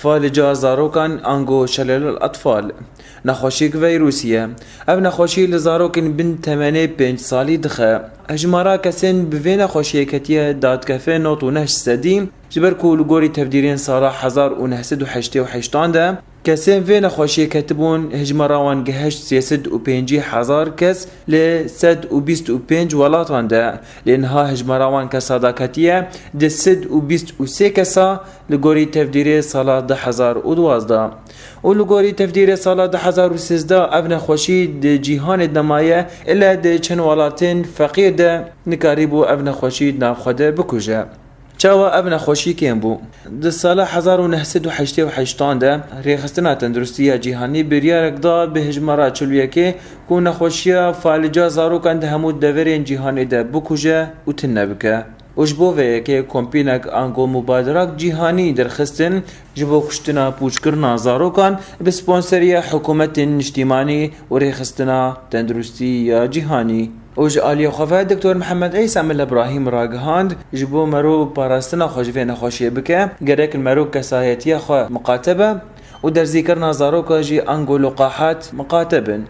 Falica zarokan ango şelel el atfal nexweşiyek veyrûsî ye. Ev nexweşî li zarokên bin temenê pênc salî dixe. Hejmara kesên bi vê nexweşiyê ketiye dadkefe nod û neh sedî ji ber ku li gorî tevdîrên sala hezar û neh sed û heştê û heştan de, Kesên vê nexweşiyê ketibûn hejmara wan geheşt sê sed û pêncî hezar kes li sed û bîst û pênc welatan de, lê niha hejmara wan kesa da ketiye di sed û bîst û sê kesa li gorî tevdîrê sala du hezar û duwazdeh û li gorî tevdîrê sala du hezar û sêzdeh ev nexweşî di cîhanê de maye ile di çend welatên feqîr de nikarîbû ev nexweşî di nav xwe de bikuje. Çawa ev nexweşî kêm bû? Di sala hezar û neh sed û heştê û heşt an de Rêxistina Tenduristî ya Cîhanî biryarek da bi hejmara çil û yekê ku nexweşiya falîca zarokan di hemû deverên cîhanê de bikuje û tune bike û ji bo vê yekê kompînek Ango Mubaderak Cîhanî derxistin Ji bo kuştina pûçkirina zarokan bi sponseriya hikûmetên niştîmanî û rêxistina tenduristî ya cîhanî û ji aliyê xwe ve Doktor Mihemed Îsa Milla Brahîm ragihand ji bo mero parastina xwe ji vê nexweşiyê bike gerek mero kesayetiya xwe miqate be û derzîkirina zaroka jî ango li qahat miqate bin.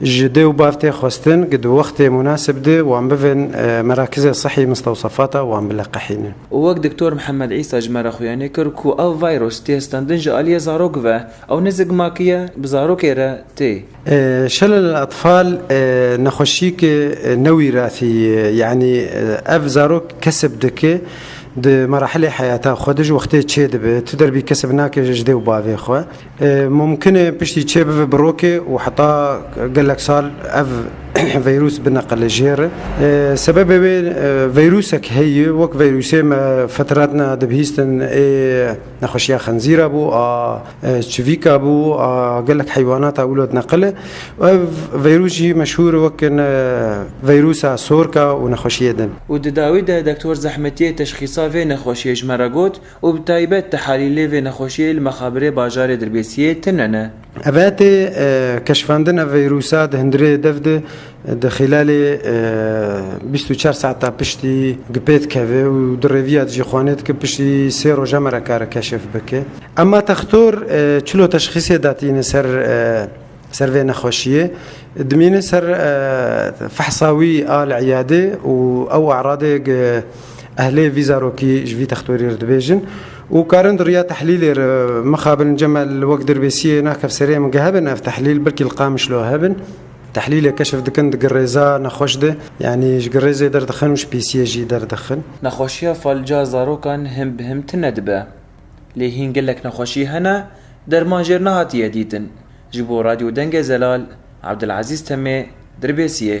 Ji dê û bav tê xwestin ku di wextê munasib de wan bivin merakizê sihî mistewsefata wan biliqîhînin. Û wek Doktor Mihemed Îsa ji me re xuyanî kir ku ev vîrus tê standin ji aliyê zarok ve, ew ne zikmakî ye, bi zarokê re tê. Şelal Atfal nexweşiyeke newîrasî ye, yanî ev zarok kesb dike di merahilê heyata xwe de ji wextê çêdibe, tu derbî kesb nake ji dê û bavê xwe. Mumkin e piştî çê bibe bi rokê û heta gelek sal ev veyrûs bineqile jê re. Sebebê wê veyrûsek heye wek veyrûsê me fetretna dibihîstin ê nexweşiya xenzîra bû a çivîka bû a gelek heywanata wilo dineqile û ev veyrûs jî meşhûr wek veyrûsa sorka û nexweşiyê din. Û di dawî de doktor zehmetiyê teşxîsa vê nexweşiyê ji me re got, Û bi taybet tehelîlê vê nexweşiyê li mexabirê bajarê Dirbêsiyê tune ne. Evetê keşfandina vîrûsa di hundirê dev de di xîlalê bîst û çar saeta piştî gi pê dikeve û di rêviya dijî xwanêt ke piştî sê roja me re kare keşf bike. Ema textor çilo teşxîsê datîne ser. Ser vê nexweşiyê dimîne ser fehsa wî a li îyadê û ew e'radê ehlê vî zarokî ji vî textorî re dibêjin û karin di riya tehlîlê re mixabin cema li wek dirbêsiyê nakev serê em gehebin ev tehlîl belkî li Qamişlo hebin tehlîlê keşf dikin di girêza nexweş de yanî ji girêzê derdixin û ji pîsiyê jî derdixin. Nexweşiya falca zarokan him bi him tune dibe. Lê hîn gelek nexweşî hene derman jêr nehatiye dîtin. Ji bo Radyo Dengê Zelal, Abdulazîz Temê, Dirbêsiyê.